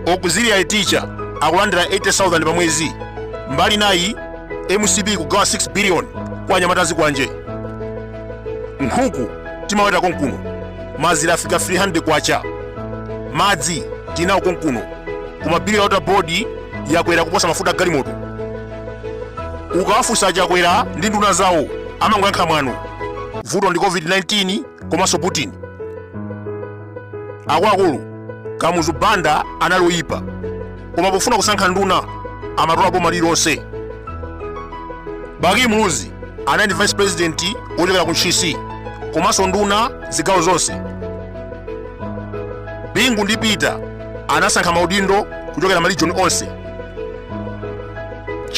auxiliary teacher akulandira 80000 pa mwezi mbali nayi mcp kugawa 6 billion kwa anyamata a zikwanje nkhuku timaweta konkuno mazira afika 300 kwacha madzi tinawo konkuno koma bili ya water board yakwera kuposa mafuta a galimoto ukawafunsa chakwera ndi nduna zawo amangoyankha mwano vuto ndi covid-19 komanso putin akuluakulu kamuzu banda anali oyipa koma pofuna kusankha nduna amatola boma lililonse bakili muluzi anali ndi vice president wochokera ku ntchisi komanso nduna zigawo zonse bingu ndi peter anasankha maudindo kuchokera marijoni onse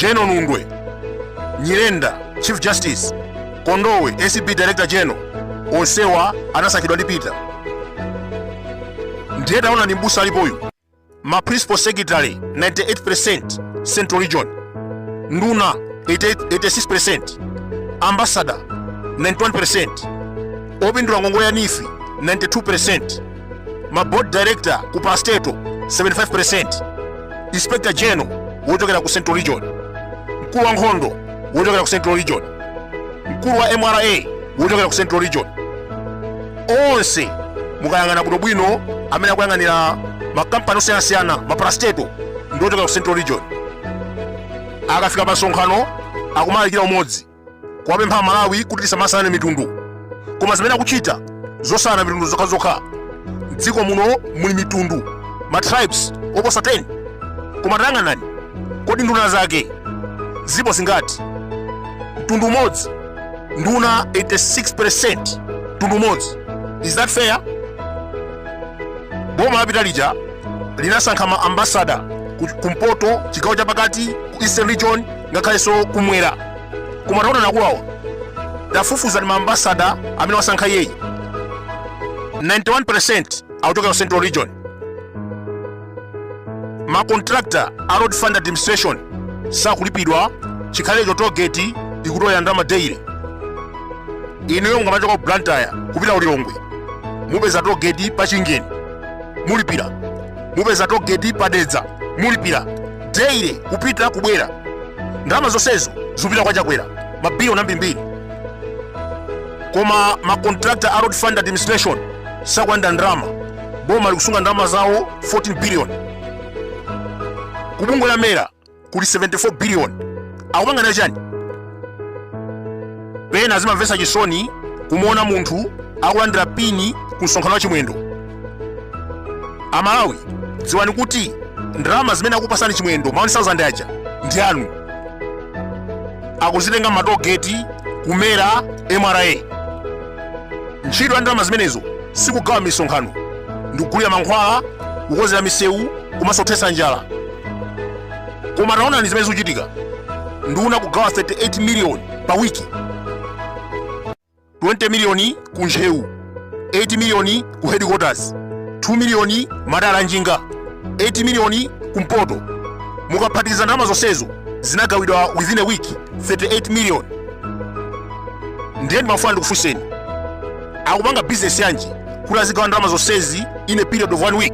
general nundwe nyirenda chief justice kondowe acb director general onsewa anasankhidwa ndi peter ndiye taona ndi mbusa alipoyu ma principal secretary 98% central region nduna 86% ambassador 91% opindula ngongole ya neef 92% ma board director ku parastatal 75% inspector general wochokera ku central region mkulu wa nkhondo wochokera ku central region mkulu wa mra wochokera ku central region onse mukayang'ana bwinobwino amene akuyang'anira makampani osiyanasiyana maparastatal ndi ochokera ku central region akafika pa msonkhano akumalalikira umodzi kuwapempha amalawi kuti tisamasane mitundu koma zimene akuchita zosana mitundu zokhazokha mdziko muno muli mitundu ma tribes oposa 10 koma tayang'anani kodi nduna zake zipo zingati mtundu umodzi nduna 86% mtundu umodzi is that fair boma lapita lija linasankha ma ambasada kumpoto chigawo chapakati ku eastern region ngakhalenso kumwera koma taona ndi akuluwa tafufuzani maambasada amene wasankha iyeyu 91% akuchokera ku central region macontractor a road fund administration sakulipidwa chikhalecho togeti ikutolera ndalama daily inuyo mukamachoka ku blantyre kupita ku lilongwe mupeza togeti pa chingeni mulipira mupeza togeti pa dedza mulipira daily kupita kubwera ndalama zonsezi zikupita kwa chakwera mabiliyoni ambirimbiri koma macontractor a road fund administration sakulandira ndalama boma likusunga ndalama zawo 14 billion kubungwe la mera kuli 74 billion akupanga nayo chani pena zimamvetsa chisoni kumuona munthu akulandira pini ku msonkhano wa chimwendo amalawi dziwani kuti ndalama zimene akupatsani chimwendo ma 1000 aja ndi anu akuzitenga matogeti ku mera mra ntchito ya ndalama zimenezo sikugawa misonkhano ndikugulira mankhwala kukonzera misewu komanso kuthetsa njala koma taonani zimene zikuchitika nduna kugawa 38 miliyoni pa wiki 20 miliyoni ku ntcheu 8 miliyoni ku headquarters 2 miliyoni madala a njinga 8 miliyoni ku mpoto mukaphatikiza ndalama zonsezo zinagawidwa within a week 38 million ndiye ndimafuna ndikufunseni akupanga bizinesi yanji kuti azigawa ndalama zonsezi in a period of one week